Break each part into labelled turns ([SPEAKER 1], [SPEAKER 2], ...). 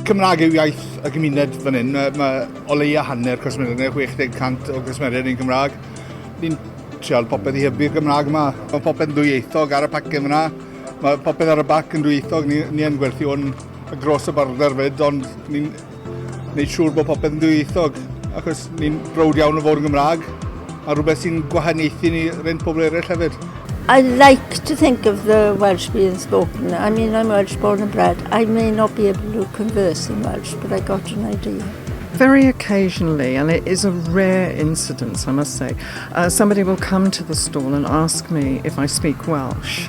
[SPEAKER 1] Cymraeg yw iaith y gymuned fan hyn. Mae, mae o leia hanner cwsmeriaid, neu 60% o cwsmeriaid yn Gymraeg. Ni'n trial popeth i hybu'r Gymraeg yma. Mae popeth yn dwyieithog ar y pacen yna. Mae popeth ar y bac yn dwyieithog. Ni, ni yn gwerthu o'n gros y border fyd, ond ni'n Wneud siŵr bod popeth yn dwyieithog, achos ni'n browd iawn o fod yn Gymraeg, a rhywbeth sy'n gwahaniaethu ni rent pobl eraill hefyd. I like
[SPEAKER 2] to think of the Welsh being spoken. I mean, I'm Welsh born and bred. I may not be able to converse in Welsh, but I got an idea. Very
[SPEAKER 3] occasionally, and it is a rare incidence, I must say, uh, somebody will come to the stall and ask me if I speak Welsh.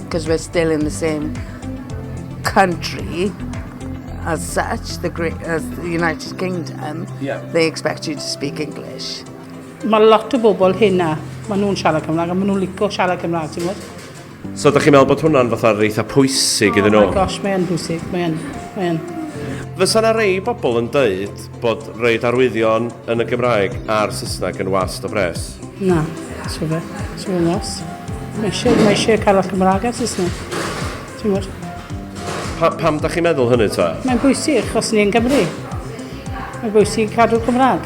[SPEAKER 4] because we're still in the same country as such, the, great, as the United Kingdom, yeah. they expect you to speak English. Mae lot
[SPEAKER 5] o bobl hynna, maen nhw'n siarad Cymraeg a maen nhw'n licio siarad Cymraeg, ti'n gwybod? So, ydych chi'n meddwl
[SPEAKER 6] bod hwnna'n fatha eitha pwysig iddyn nhw? Oh my gosh, mae'n pwysig,
[SPEAKER 5] mae'n, mae'n.
[SPEAKER 6] Fysa yna rei bobl yn dweud Bod roid arwyddion yn y Gymraeg a'r Saesneg yn wast o bres. Na,
[SPEAKER 5] so fe, so fe'n os. Mae eisiau, mae eisiau cael y Cymraeg a Saesneg. Ti'n gwybod? Pa, pam
[SPEAKER 6] da chi'n meddwl hynny ta? Mae'n bwysig, os
[SPEAKER 5] ni'n Gymru. Mae'n bwysig cadw Cymraeg.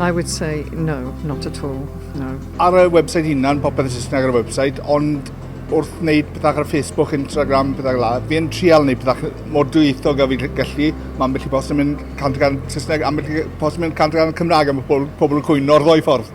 [SPEAKER 6] I would
[SPEAKER 3] say no, not at all, no. Ar y website
[SPEAKER 1] hunan, popeth yn Saesneg ar y website, ond wrth wneud pethau ar Facebook, Instagram, pethau gla, fi yn trial wneud pethau mor dwyieithog a fi gallu. Mae ambell i post yn mynd 100% Saesneg, ambell i post yn mynd 100% Cymraeg, a mae pobl, pobl yn cwyno o'r ddwy ffordd.